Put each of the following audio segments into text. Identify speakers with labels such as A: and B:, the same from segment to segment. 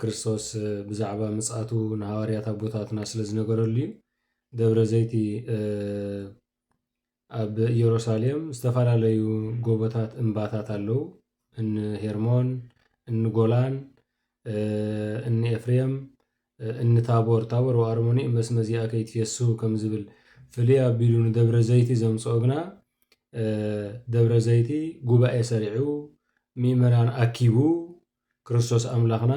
A: ክርስቶስ ብዛዕባ ምጽኣቱ ንሃዋርያት ኣቦታትና ስለ ዝነገረሉ እዩ። ደብረ ዘይቲ ኣብ ኢየሩሳሌም ዝተፈላለዩ ጎቦታት እምባታት ኣለዉ። እኒ ሄርሞን፣ እኒ ጎላን፣ እኒ ኤፍሬም እኒ ታቦር ታቦር ወኣርሞኒ እመስመ እዚኣ ከይትፌሱ ከም ዝብል ፍልይ ኣቢሉ ንደብረ ዘይቲ ዘምፅኦ ግና ደብረ ዘይቲ ጉባኤ ሰሪዑ ምእመናን ኣኪቡ ክርስቶስ ኣምላኽና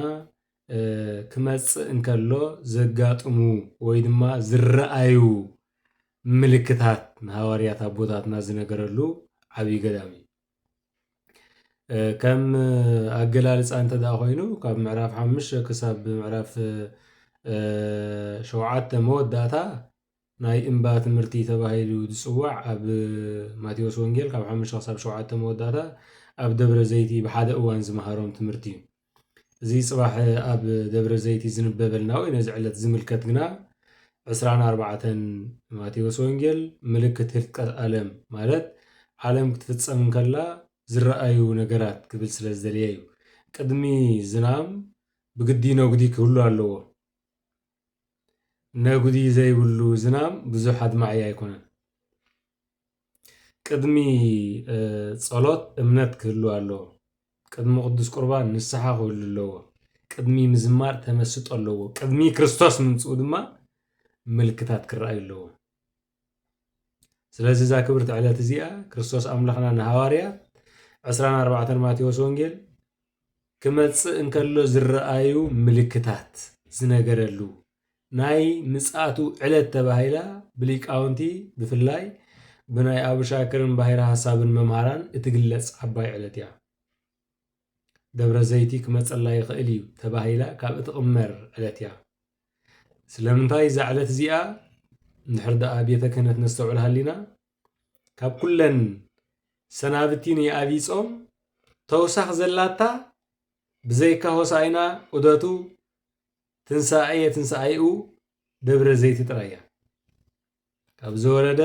A: ክመጽእ እንከሎ ዘጋጥሙ ወይ ድማ ዝረኣዩ ምልክታት ንሃዋርያት ኣቦታትና ዝነገረሉ ዓብዪ ገዳም እዩ። ከም ኣገላልፃ እንተ ኮይኑ ካብ ምዕራፍ ሓሙሽተ ክሳብ ምዕራፍ ሸውዓተ መወዳእታ ናይ እምባ ትምህርቲ ተባሂሉ ዝጽዋዕ ኣብ ማቴዎስ ወንጌል ካብ ሓሙሽተ ክሳብ ሸውዓተ መወዳእታ ኣብ ደብረ ዘይቲ ብሓደ እዋን ዝመሃሮም ትምህርቲ እዩ። እዚ ጽባሕ ኣብ ደብረ ዘይቲ ዝንበበልና ወይ ነዚ ዕለት ዝምልከት ግና ዕስራን ኣርባዕተን ማቴዎስ ወንጌል ምልክት ህልቀት ኣለም ማለት ዓለም ክትፍጸም እንከላ ዝረኣዩ ነገራት ክብል ስለ ዝደለየ እዩ። ቅድሚ ዝናም ብግዲ ነጉዲ ክህሉ ኣለዎ። ነጉዲ ዘይብሉ ዝናም ብዙሕ ኣድማዒ ኣይኮነን። ቅድሚ ጸሎት እምነት ክህሉ ኣለዎ። ቅድሚ ቅዱስ ቁርባን ንስሓ ክህሉ ኣለዎ። ቅድሚ ምዝማር ተመስጦ ኣለዎ። ቅድሚ ክርስቶስ ምምጽኡ ድማ ምልክታት ክረኣዩ ኣለዎ። ስለዚ እዛ ክብርቲ ዕለት እዚኣ ክርስቶስ ኣምላኽና ንሃዋርያ ዕስራን ኣርባዕተን ማቴዎስ ወንጌል ክመጽእ እንከሎ ዝረኣዩ ምልክታት ዝነገረሉ ናይ ምጽኣቱ ዕለት ተባሂላ ብሊቃውንቲ ብፍላይ ብናይ ኣቡሻክርን ባሕረ ሐሳብን መምሃራን እትግለጽ ዓባይ ዕለት እያ። ደብረ ዘይቲ ክመጸላ ይኽእል እዩ ተባሂላ ካብ እትቕመር ዕለት እያ። ስለምንታይ እዛ ዕለት እዚኣ እንድሕር ደኣ ቤተ ክህነት ነስተውዕል ሃሊና ካብ ኩለን ሰናብቲ ናይ ኣብይ ጾም ተውሳኽ ዘላታ ብዘይካ ሆሳኢና ዑደቱ ትንሳኤ ትንሳኤኡ ደብረ ዘይቲ ጥራይ እያ ካብ ዝወረደ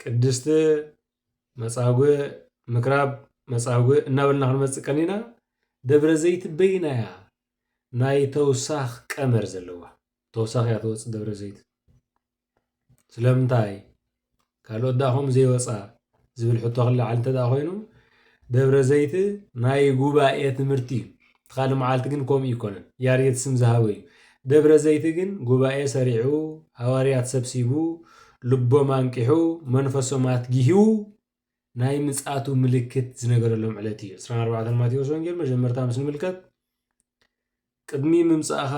A: ቅድስቲ መፃጉዕ ምክራብ መፃጉዕ እናበልና ክንመፅእ ቀኒና ደብረ ዘይቲ በይና እያ ናይ ተውሳኽ ቀመር ዘለዋ ተውሳኽ እያ ትወፅእ ደብረ ዘይቲ ስለምንታይ ካልኦት ደኣ ከምኡ ዘይወፃ ዝብል ሕቶ ክለዓል እንተ ኮይኑ ደብረ ዘይቲ ናይ ጉባኤ ትምህርቲ እዩ እቲ ካልእ መዓልቲ ግን ከምኡ ኣይኰነን። ያሬድ ስም ዝሃቦ እዩ። ደብረ ዘይቲ ግን ጉባኤ ሰሪዑ፣ ሃዋርያት ሰብሲቡ፣ ልቦም ኣንቂሑ፣ መንፈሶም ኣትጊሁ፣ ናይ ምጽኣቱ ምልክት ዝነገረሎም ዕለት እዩ። ዕስራን ኣርባዕተን ማቴዎስ ወንጌል መጀመርታ ምስ ንምልከት ቅድሚ ምምጻእኻ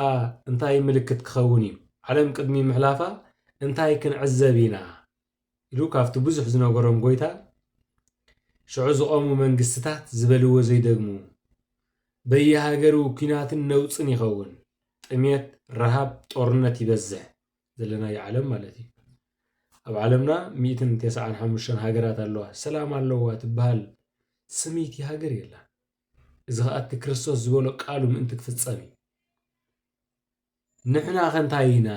A: እንታይ ምልክት ክኸውን እዩ? ዓለም ቅድሚ ምሕላፋ እንታይ ክንዕዘብ ኢና? ኢሉ ካብቲ ብዙሕ ዝነገሮም ጎይታ ሽዑ ዝቆሙ መንግስትታት ዝበልዎ ዘይደግሙ በየሃገሩ ኩናትን ነውጽን ይኸውን ጥምየት ረሃብ ጦርነት ይበዝሕ ዘለናዮ ዓለም ማለት እዩ ኣብ ዓለምና ሚእትን ተስዓን ሓሙሽተን ሃገራት ኣለዋ ሰላም ኣለዋ ትበሃል ስምይቲ ሃገር የላን እዚ ከዓ እቲ ክርስቶስ ዝበሎ ቃሉ ምእንቲ ክፍጸም እዩ ንሕና ከ እንታይ ኢና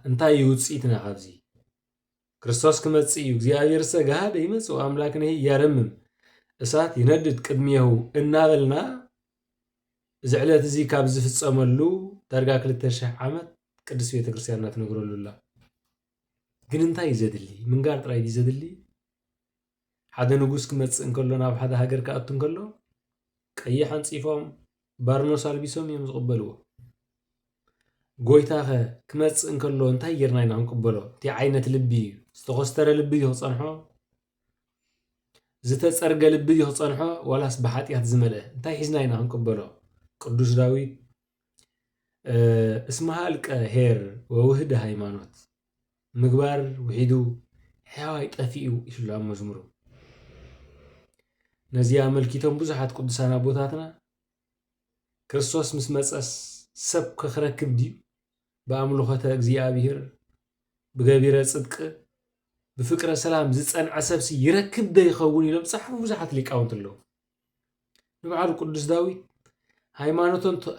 A: እንታይ እዩ ውፅኢትና ካብዚ ክርስቶስ ክመጽእ እዩ፣ እግዚኣብሔርሰ ገሃደ ይመጽእ ወአምላክነሂ ያረምም፣ እሳት ይነድድ ቅድሜሁ እናበልና እዚ ዕለት እዚ ካብ ዝፍጸመሉ ዳርጋ ክልተ ሽሕ ዓመት ቅድስት ቤተ ክርስቲያንና ትነግረሉ ኣላ። ግን እንታይ እዩ ዘድሊ? ምንጋር ጥራይ ድዩ ዘድሊ? ሓደ ንጉስ ክመጽእ እንከሎ ናብ ሓደ ሃገር ክኣቱ እንከሎ ቀይሕ ኣንጺፎም ባርኖስ ኣልቢሶም እዮም ዝቕበልዎ። ጎይታኸ ክመጽእ እንከሎ እንታይ ጌርና ኢና ክንቅበሎ? እንታይ ዓይነት ልቢ እዩ? ዝተኾስተረ ልቢ እዩ ክጸንሖ? ዝተጸርገ ልቢ እዩ ክጸንሖ? ዋላስ ብሓጢኣት ዝመልአ? እንታይ ሒዝና ኢና ክንቅበሎ? ቅዱስ ዳዊት እስመ ሃልቀ ኄር ወውህደ ሃይማኖት ምግባር ውሒዱ ሕያዋይ ጠፊኡ ኢሉ ኣብ መዝሙሩ ነዚ ኣመልኪቶም ብዙሓት ቅዱሳን ኣቦታትና ክርስቶስ ምስ መጸስ ሰብ ከክረክብ ድዩ ብኣምልኾተ እግዚኣብሔር ብገቢረ ጽድቅ ብፍቅረ ሰላም ዝጸንዐ ሰብሲ ይረክብ ዶ ይኸውን ኢሎም ዝጸሓፉ ብዙሓት ሊቃውንቲ ኣለዉ። ንብዓሉ ቅዱስ ዳዊት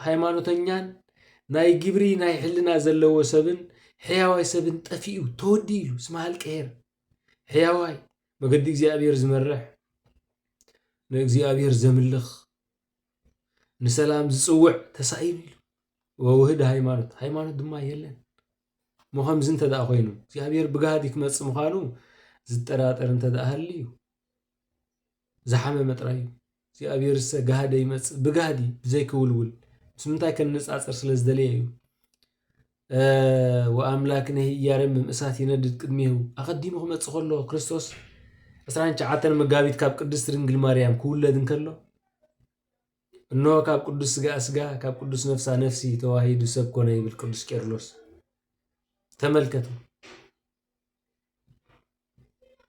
A: ሃይማኖተኛን ናይ ግብሪ ናይ ሕልና ዘለዎ ሰብን ሕያዋይ ሰብን ጠፊኡ ተወዲ ኢሉ ስመ ሃልቀሄር ሕያዋይ መገዲ እግዚኣብሔር ዝመርሕ ንእግዚኣብሔር ዘምልኽ ንሰላም ዝፅውዕ ተሳኢሉ ኢሉ ወውህድ ሃይማኖት ሃይማኖት ድማ የለን እሞ ከምዚ እንተ ደኣ ኮይኑ እግዚኣብሔር ብጋህዲ ክመፅእ ምዃኑ ዝጠራጠር እንተ ደኣ ሃልዩ ዝሓመመ ጥራይ እዩ። እግዚኣብሔርሰ ጋህደ ይመጽእ ብጋህዲ ብዘይ ክውልውል ምስ ምንታይ ከነጻጽር ስለ ዝደለየ እዩ። ወኣምላክ ነህ እያረምም እሳት ይነድድ ቅድሜሁ ኣቐዲሙ ክመጽእ ከሎ ክርስቶስ 29 መጋቢት ካብ ቅድስት ድንግል ማርያም ክውለድ እንከሎ እነሆ ካብ ቅዱስ ስጋ ስጋ ካብ ቅዱስ ነፍሳ ነፍሲ ተዋሂዱ ሰብ ኮነ ይብል ቅዱስ ቄርሎስ። ተመልከቱ።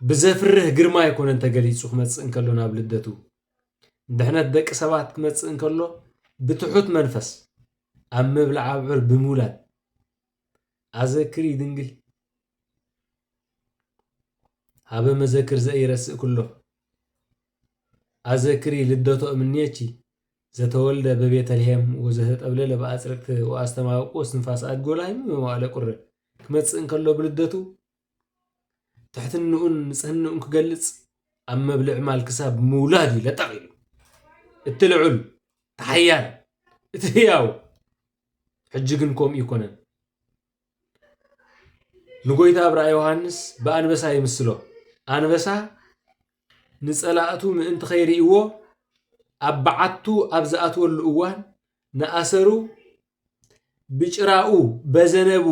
A: ብዘፍርህ ግርማ ኣይኮነን ተገሊጹ ክመጽእ እንከሎ ናብ ልደቱ ድሕነት ደቂ ሰባት ክመጽእ እንከሎ ብትሑት መንፈስ ኣብ ምብላዕ ኣብዑር ብምውላድ ኣዘክሪ ድንግል ሃበ መዘክር ዘኢረስእ ኩሎ ኣዘክሪ ልደቶ እምኔቺ ዘተወልደ በቤተልሔም ወዘተጠብለለ በኣጽርቅት ወኣስተማውቁ ስንፋስ ኣድጎ ላይም መዋእለ ቁር ክመጽእ እንከሎ ብልደቱ ትሕትንኡን ንጽህንኡን ክገልጽ ኣብ መብልዕ ማል ክሳብ ምውላድ እዩ ለጠቕ ኢሉ እቲ ልዑል እቲ ሓያል እቲ ህያው ሕጂ ግን ከምኡ ይኮነን ንጎይታ ኣብራ ዮሃንስ ብኣንበሳ ይምስሎ ኣንበሳ ንጸላእቱ ምእንቲ ከይርእይዎ ኣብ በዓቱ ኣብ ዝኣትወሉ እዋን ንኣሰሩ ብጭራኡ በዘነቡ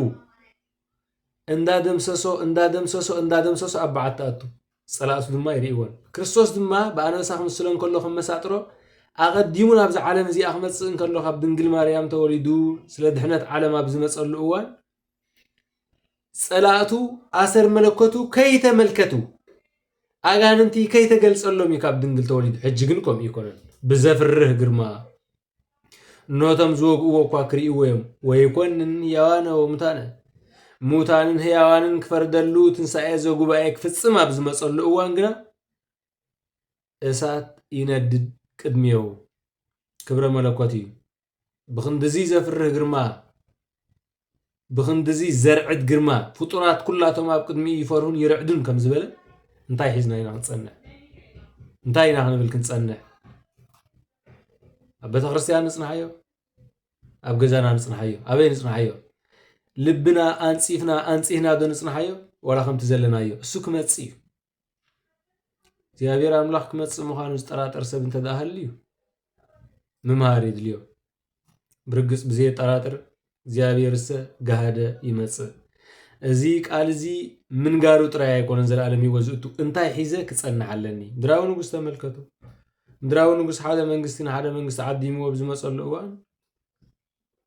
A: እንዳደምሰሶ እንዳደምሰሶ እንዳደምሰሶ ኣብ በዓት ትኣቱ ጸላእቱ ድማ ይርእይዎን ክርስቶስ ድማ ብኣንበሳ ክምስሎ እንከሎ ከም መሳጥሮ ኣቐዲሙ ናብዚ ዓለም እዚኣ ክመጽእ እንከሎ ካብ ድንግል ማርያም ተወሊዱ ስለ ድሕነት ዓለም ኣብ ዝመጸሉ እዋን ጸላእቱ ኣሰር መለኮቱ ከይተመልከቱ ኣጋንንቲ ከይተገልጸሎም እዩ ካብ ድንግል ተወሊዱ ሕጂ ግን ከምኡ ይኮነን ብዘፍርህ ግርማ እነሆቶም ዝወግእዎ እኳ ክርእይዎ እዮም ወይኮንን ሕያዋነ ወሙታነ ሙታንን ሕያዋንን ክፈርደሉ ትንሣኤ ዘጉባኤ ክፍጽም ኣብ ዝመጸሉ እዋን ግና እሳት ይነድድ ቅድሚው ክብረ መለኮት እዩ ብክንድዚ ዘፍርህ ግርማ ብኽንድዚ ዘርዕድ ግርማ፣ ፍጡራት ኩላቶም ኣብ ቅድሚኡ ይፈርሁን ይርዕዱን ከም ዝበለ፣ እንታይ ሒዝና ኢና ክንጸንሕ? እንታይ ኢና ክንብል ክንጸንሕ? ኣብ ቤተ ክርስቲያን ንጽንሓዮ፣ ኣብ ገዛና ንጽንሓዮ፣ ኣበይ ንጽንሓዮ? ልብና ኣንጺፍና ኣንጺህና ዶ ንጽንሓዮ? ዋላ ከምቲ ዘለናዮ እሱ ክመጽእ እዩ። እግዚኣብሔር ኣምላኽ ክመፅእ ምዃኑ ዝጠራጠር ሰብ እንተ ሃልዩ ምምሃር የድልዮ ብርግፅ ብዘየጠራጥር እግዚኣብሔርሰ ጋሃደ ይመፅእ እዚ ቃል እዚ ምንጋሩ ጥራይ ኣይኮነን ዘለኣለም ህይወት ዝእቱ እንታይ ሒዘ ክፀንሕ ኣለኒ ምድራዊ ንጉስ ተመልከቱ ምድራዊ ንጉስ ሓደ መንግስቲ ንሓደ መንግስቲ ዓዲምዎ ብዝመፀሉ እዋን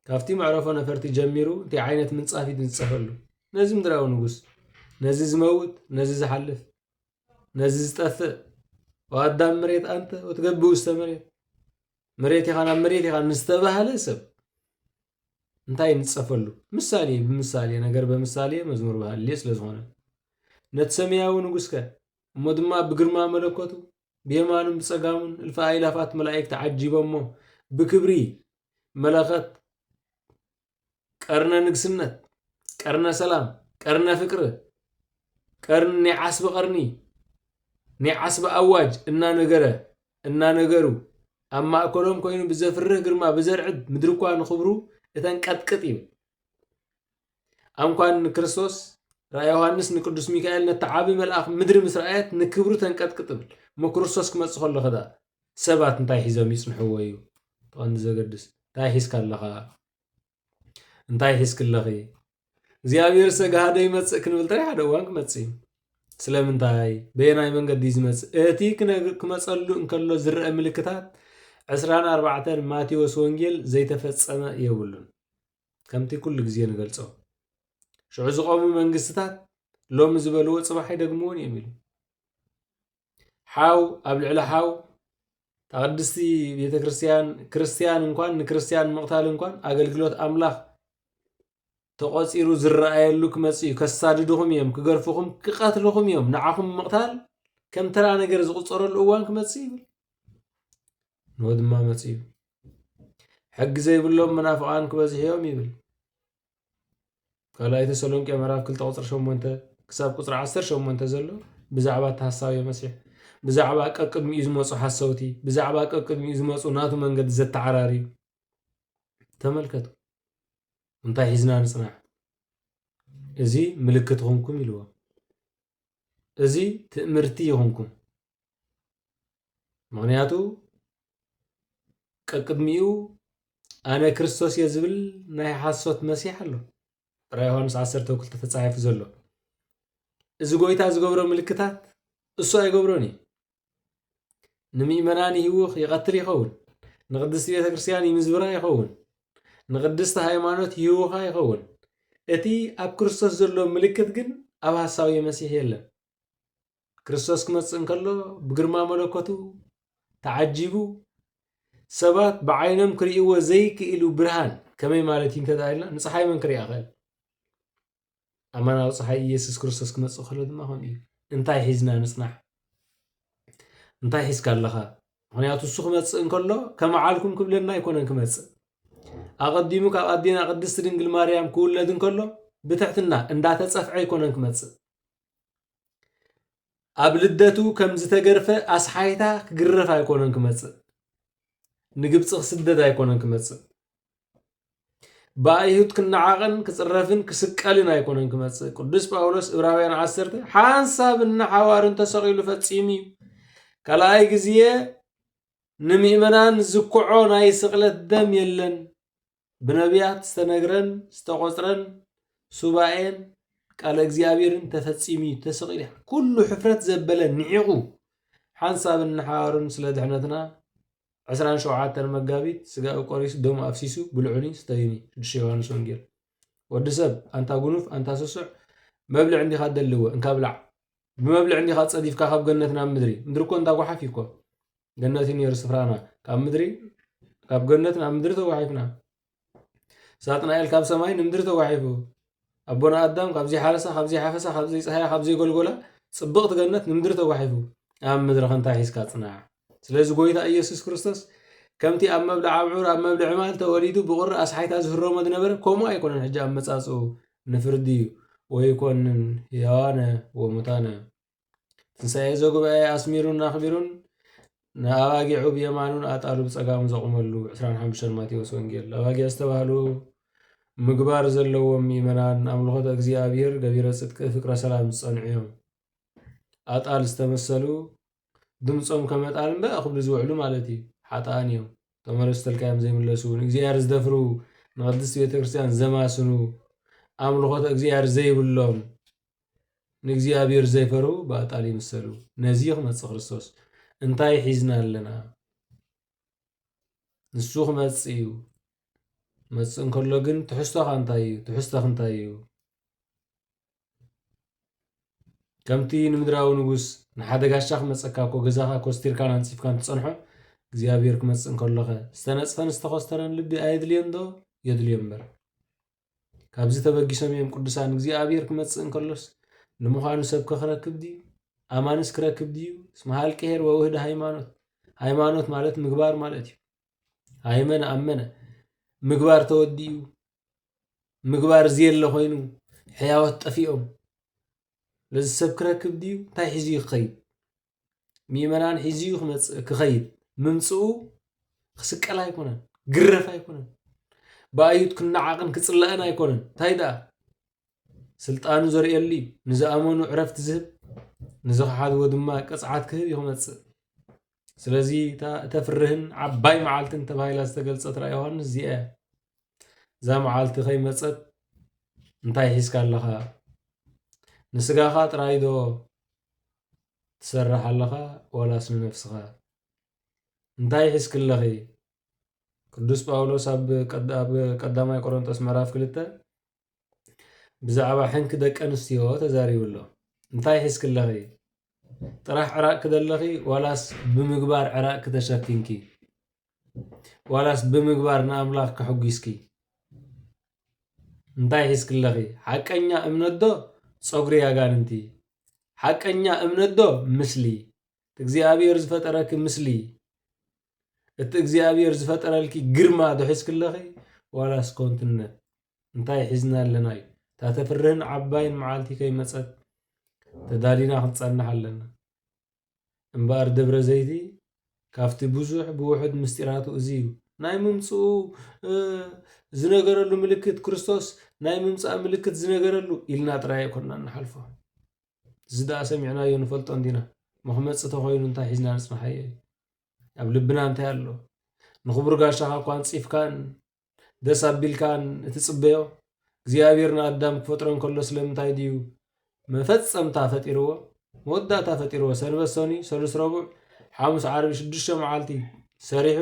A: ካብቲ መዕረፎ ነፈርቲ ጀሚሩ እንታይ ዓይነት ምንጻፍ እዩ ዝንጸፈሉ? ነዚ ምድራዊ ንጉስ፣ ነዚ ዝመውት፣ ነዚ ዝሓልፍ፣ ነዚ ዝጠፍእ ወኣዳም መሬት ኣንተ ወትገብ ውስተ መሬት መሬት ኢኻ ናብ መሬት ኢኻ ንዝተባህለ ሰብ እንታይ ንጸፈሉ ምሳሌ ብምሳሌ ነገር በምሳሌ መዝሙር ባህሌ ስለ ዝኾነ ነቲ ሰማያዊ ንጉስከ እሞ ድማ ብግርማ መለኮቱ ብየማኑን ብጸጋሙን እልፊ ኣእላፋት መላእክቲ ዓጂቦሞ ብክብሪ መለኸት ቀርነ ንግስነት ቀርነ ሰላም ቀርነ ፍቅር ቀርን ናይ ዓስቢ ቀርኒ ናይ ዓስቢ ኣዋጅ እናነገረ እናነገሩ ኣብ ማእከሎም ኮይኑ ብዘፍርህ ግርማ ብዘርዕድ ምድሪ እኳ ንኽብሩ እተንቀጥቅጥ ይብል ኣንኳን ንክርስቶስ ራእይ ዮሃንስ ንቅዱስ ሚካኤል ነቲ ዓቢ መልኣኽ ምድሪ ምስ ረኣየት ንክብሩ ተንቀጥቅጥ እብል እሞ ክርስቶስ ክመጽእ ከሎ ከዳ ሰባት እንታይ ሒዞም ይጽንሕዎ እዩ ተቐንዲ ዘገድስ እንታይ ሒዝካ ኣለኻ እንታይ ሒዝክ ኣለኺ እግዚኣብሔር ሰጋሃደ ይመጽእ ክንብል ጥራይ ሓደ እዋን ክመጽእ እዩ ስለምንታይ በየናይ መንገዲ እዩ ዝመጽእ እቲ ክመጸሉ እንከሎ ዝረአ ምልክታት ዕስራን ኣርባዕተን ማቴዎስ ወንጌል ዘይተፈጸመ የብሉን ከምቲ ኩሉ ግዜ ንገልጾ። ሽዑ ዝቖሙ መንግስትታት ሎሚ ዝበልዎ ጽባሕ ኣይደግምዎን እዮም ኢሉ። ሓው ኣብ ልዕሊ ሓው እታ ቅድስቲ ቤተ ክርስቲያን ክርስቲያን እንኳን ንክርስቲያን ምቕታል እንኳን ኣገልግሎት ኣምላኽ ተቖፂሩ ዝረኣየሉ ክመፅእ እዩ ከሳድድኹም እዮም ክገርፍኹም ክቐትልኹም እዮም ንዓኹም ምቕታል ከም ተራ ነገር ዝቑፀረሉ እዋን ክመፅእ ይብል ንዎ ድማ መፅኡ ሕጊ ዘይብሎም መናፍቓን ክበዝሑ እዮም ይብል ካልኣይ ተሰሎንቄ ምዕራፍ 2 ቁፅሪ 8 ክሳብ ቁፅሪ 18 ዘሎ ብዛዕባ እቲ ሃሳዊ መሲሕ ብዛዕባ ቀቅድሚኡ ዝመፁ ሓሰውቲ ብዛዕባ ቀቅድሚኡ ዝመፁ ናቱ መንገዲ ዘተዓራርዩ ተመልከቱ እንታይ ሒዝና ንፅናሕ እዚ ምልክት ይኹንኩም ኢልዎ እዚ ትእምርቲ ይኹንኩም ምክንያቱ ቀቅድሚኡ ኣነ ክርስቶስ እየ ዝብል ናይ ሓሶት መሲሕ ኣሎ ራይ ዮሃንስ 12 ተፃሒፉ ዘሎ እዚ ጎይታ ዝገብሮ ምልክታት እሱ ኣይገብሮን እዩ ንምእመናን ይህውኽ ይቐትል ይኸውን ንቅድስቲ ቤተ ክርስትያን ይምዝብራ ይኸውን ንቅድስቲ ሃይማኖት ይህውኻ ይኸውን እቲ ኣብ ክርስቶስ ዘሎ ምልክት ግን ኣብ ሃሳዊ መሲሕ የለን ክርስቶስ ክመጽእ እንከሎ ብግርማ መለኮቱ ተዓጂቡ ሰባት ብዓይኖም ክርእይዎ ዘይክእሉ ብርሃን ከመይ ማለት እዩ እንተደኣ ኢልና ንፀሓይ መን ክሪኣ ክእል ኣማናዊ ፀሓይ ኢየሱስ ክርስቶስ ክመፅእ ከሎ ድማ ከምኡ እዩ እንታይ ሒዝና ንፅናሕ እንታይ ሒዝካ ኣለኻ ምክንያቱ እሱ ክመፅእ እንከሎ ከመዓልኩም ክብለና ኣይኮነን ክመፅእ ኣቐዲሙ ካብ ኣዴና ቅድስቲ ድንግል ማርያም ክውለድ እንከሎ ብትሕትና እንዳተፀፍዐ ኣይኮነን ክመፅእ ኣብ ልደቱ ከም ዝተገርፈ ኣስሓይታ ክግረፍ ኣይኮነን ክመፅእ ንግብፂ ክስደድ ኣይኮነን ክመፅእ ብኣይሁድ ክነዓቕን ክፅረፍን ክስቀልን ኣይኮነን ክመፅእ ቅዱስ ጳውሎስ እብራውያን ዓሰርተ ሓንሳብ እናሓዋርን ተሰቒሉ ፈፂሙ እዩ ካልኣይ ግዜ ንምእመናን ዝኩዖ ናይ ስቕለት ደም የለን ብነብያት ዝተነግረን ዝተቆጽረን ሱባኤን ቃለ እግዚኣብሔርን ተፈጺሙ እዩ ተሰቂሉ እዩ። ኩሉ ሕፍረት ዘበለ ንዒቑ ሓንሳብን ንሓዋሩን ስለ ድሕነትና ዕስራን ሸውዓተን መጋቢት ስጋኡ ቆሪሱ ደሙ ኣፍሲሱ ብልዑኒ ስተዩኒ ሽዱሽተ ዮሃንስ ወንጌል ወዲ ሰብ ኣንታ ጉኑፍ ኣንታ ስሱዕ መብልዕ እንዲኻ ደልዎ እንካ ብላዕ ብመብልዕ እንዲኻ ጸዲፍካ ካብ ገነት ናብ ምድሪ ምድሪ እኮ እንዳ ጓሓፍ እኮ ገነት እዩ ነይሩ ስፍራና ካብ ምድሪ ካብ ገነት ናብ ምድሪ ተጓሒፍና ሳጥናኤል ካብ ሰማይ ንምድሪ ተጓሒፉ ኣቦና ኣዳም ካብ ዘይሓረሳ ካብ ዘይሓፈሳ ካብ ዘይፀሃያ ካብ ዘይጎልጎላ ፅብቕቲ ገነት ንምድሪ ተጓሒፉ ኣብ ምድሪ ከንታይ ሒዝካ ፅናዕ ስለዚ ጎይታ ኢየሱስ ክርስቶስ ከምቲ ኣብ መብልዕ ኣብዑር ኣብ መብልዕ ማል ተወሊዱ ብቑሪ ኣስሓይታ ዝህረሞ ዝነበረ ከምኡ ኣይኮነን ሕጂ ኣመጻጽኡ ንፍርዲ እዩ ወይኮንን ሕያዋነ ወሙታነ ትንሣኤ ዘጉባኤ ኣስሚሩን ኣኽቢሩን ንኣባጊዑ ብየማኑን ኣጣሉ ብጸጋሙ ዘቑመሉ 25 ማቴዎስ ወንጌል ኣባጊዕ ዝተባህሉ ምግባር ዘለዎም ምእመናን ኣምልኾተ እግዚኣብሔር ገቢረ ጽድቂ ፍቅረ ሰላም ዝጸንዑ እዮም። ኣጣል ዝተመሰሉ ድምጾም ከመጣል እምበ ክብሉ ዝውዕሉ ማለት እዩ ሓጥኣን እዮም ተመለሱ ተልካዮም ዘይምለሱ ንእግዚኣብሔር ዝደፍሩ ንቅድስቲ ቤተ ክርስቲያን ዘማስኑ ኣምልኾተ እግዚኣብሔር ዘይብሎም ንእግዚኣብሔር ዘይፈሩ ብኣጣል ይምሰሉ ነዚ ክመፅእ ክርስቶስ እንታይ ሒዝና ኣለና ንሱ ክመፅእ እዩ መፅእ እንከሎ ግን ትሕዝቶኻ እንታይ እዩ ትሕዝቶኽ እንታይ እዩ ከምቲ ንምድራዊ ንጉስ ንሓደ ጋሻ ክመጸካ እኮ ገዛኻ ኮስቲርካን ኣንጺፍካን ትጸንሖ እግዚኣብሔር ክመጽእ እንከሎኸ ዝተነጽፈን ዝተኾስተረን ልቢ ኣየድልዮን ዶ የድልዮ እምበር ካብዚ ተበጊሶም እዮም ቅዱሳን እግዚኣብሔር ክመጽእ እንከሎስ ንምዃኑ ሰብ ከክረክብ ድዩ ኣማንስ ክረክብ ድዩ እስመ ሃልቂ ሄር ወውህደ ሃይማኖት ሃይማኖት ማለት ምግባር ማለት እዩ ሃይመነ ኣመነ ምግባር ተወዲኡ ምግባር ዝየለ ኮይኑ ሕያዎት ጠፊኦም ነዚ ሰብ ክረክብ ድዩ እንታይ ሒዙ እዩ ክኸይድ ምእመናን ሒዙ እዩ ክመፅእ ክኸይድ ምምፅኡ ክስቀል ኣይኮነን ግረፍ ኣይኮነን ብኣዩት ክነዓቕን ክፅላእን ኣይኮነን እንታይ ደኣ ስልጣኑ ዘርእየሉ እዩ ንዝኣመኑ ዕረፍቲ ዝህብ ንዝኸሓድዎ ድማ ቅፅዓት ክህብ እዩ ክመፅእ ስለዚ እታ እተፍርህን ዓባይ መዓልትን ተባሂላ ዝተገልጸት ራእይ ዮሃንስ እዚኣ እያ። እዛ መዓልቲ ከይመጸት እንታይ ሒዝካ ኣለኻ? ንስጋኻ ጥራይ ዶ ትሰርሕ ኣለኻ ዋላስ ንነፍስኻ? እንታይ ሒዝኪ ኣለኺ? ቅዱስ ጳውሎስ ኣብ ቀዳማይ ቆሮንጦስ ምዕራፍ ክልተ ብዛዕባ ሕንኪ ደቀንስትዮ ተዛሪቡ ኣሎ። እንታይ ሒዝክለኺ? ጥራሕ ዕራቕኪ ደለኺ ዋላስ ብምግባር ዕራቕኪ ተሸፊንኪ? ዋላስ ብምግባር ንኣምላኽ ከሕጒስኪ? እንታይ ሒዝክለኺ? ሓቀኛ እምነት ዶ ጸጉሪ ኣጋንንቲ? ሓቀኛ እምነት ዶ ምስሊ? እግዚኣብሔር ዝፈጠረኪ ምስሊ እቲ እግዚኣብሔር ዝፈጠረልኪ ግርማ ዶ ሒዝክለኺ ዋላስ ኮንትነት? እንታይ ሒዝና ኣለና እዩ እታ ተፍርህን ዓባይን መዓልቲ ከይመጸት ተዳሊና ክንጸንሕ ኣለና እምበኣር ደብረ ዘይቲ ካብቲ ብዙሕ ብውሑድ ምስጢራቱ እዚ እዩ ናይ ምምጽኡ ዝነገረሉ ምልክት ክርስቶስ ናይ ምምጻእ ምልክት ዝነገረሉ ኢልና ጥራይ ኣይኮንና ንሓልፎ እዚ ደኣ ሰሚዕናዮ ንፈልጦ እንዲና መክመፂ ተኮይኑ እንታይ ሒዝና ንፅንሓዮ እዩ ኣብ ልብና እንታይ ኣሎ ንክቡር ጋሻኻ እኳ ንፂፍካን ደስ ኣቢልካን እትጽበዮ እግዚኣብሔር ንኣዳም ክፈጥሮ እንከሎ ስለምንታይ ድዩ መፈጸምታ ፈጢርዎ መወዳእታ ፈጢርዎ ሰንበት ሰኑይ ሰሉስ ረቡዕ ሓሙስ ዓርቢ ሽዱሽተ መዓልቲ ሰሪሑ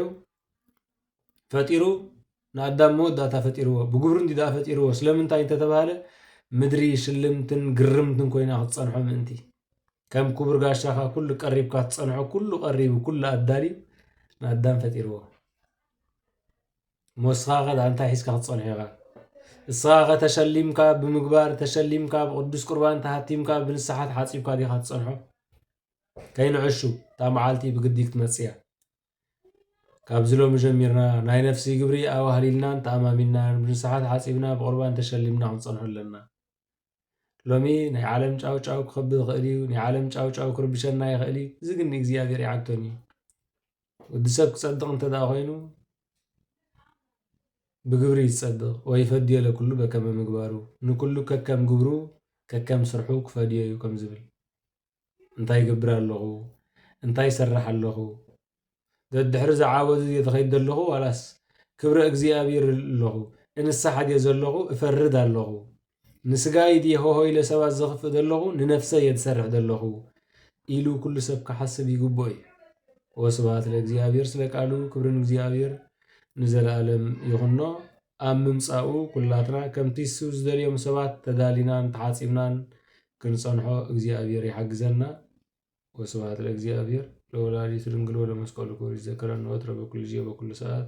A: ፈጢሩ ንኣዳም መወዳእታ ፈጢርዎ ብግብሩ እንዲ ደኣ ፈጢርዎ ስለምንታይ እንተተባህለ ምድሪ ሽልምትን ግርምትን ኮይና ክትጸንሖ ምእንቲ ከም ክቡር ጋሻኻ ኩሉ ቀሪብካ ትጸንሖ ኩሉ ቀሪቡ ኩሉ ኣዳልዩ ንኣዳም ፈጢርዎ ሞስኻኸ እንታይ ሒዝካ ክትጸንሖ ኢኻ? እስኻኸ ተሸሊምካ ብምግባር ተሸሊምካ ብቅዱስ ቁርባን ተሃቲምካ ብንስሓ ተሓጺብካ ዲኻ ትጸንሖ? ከይንዕሹ እታ መዓልቲ ብግዲ ክትመጽእ እያ። ካብዚ ሎሚ ጀሚርና ናይ ነፍሲ ግብሪ ኣዋህሊልናን ተኣማሚንናን ብንስሓ ተሓጺብና ብቁርባን ተሸሊምና ክንጸንሖ ኣለና። ሎሚ ናይ ዓለም ጫው ጫው ክኸብ ይኽእል እዩ፣ ናይ ዓለም ጫው ጫው ክርብሸና ይኽእል እዩ፣ እዚ ግን ንእግዚኣብሔር ኣይዓግቶን እዩ። ወዲ ሰብ ክጸድቕ እንተ ደኣ ኮይኑ ብግብሪ እዩ ዝጸድቕ፣ ወይፈድዮ ለኵሉ በከመ ምግባሩ፣ ንኵሉ ከከም ግብሩ ከከም ስርሑ ክፈድዮ እዩ ከም ዝብል። እንታይ ይገብር ኣለኹ፣ እንታይ ይሰርሕ ኣለኹ፣ ደድሕሪ እዚ ዓወት እዚ ከይድ ዘለኹ ዋላስ ክብረ እግዚኣብሔር ኣለኹ፣ እንሳሓ ድየ ዘለኹ፣ እፈርድ ኣለኹ፣ ንስጋይ ድየ ሆሆ ኢለ ሰባት ዘኽፍእ ዘለኹ፣ ንነፍሰይ እየ ዝሰርሕ ዘለኹ ኢሉ ኩሉ ሰብ ክሓስብ ይግብኦ እዩ። ወስብሐት ለእግዚኣብሔር ስለ ቃሉ ክብሪ ንእግዚኣብሔር ንዘለኣለም ይኹኖ። ኣብ ምምጻኡ ኩላትና ከምቲ እሱ ዝደልዮም ሰባት ተዳሊናን ተሓጺብናን ክንጸንሖ እግዚኣብሔር ይሓግዘና። ወስብሐት ለእግዚኣብሔር ለወላዲቱ ድንግል ወለመስቀሉ ክቡር ይዘከረን ወትረ በኩሉ ጊዜ በኩሉ ሰዓት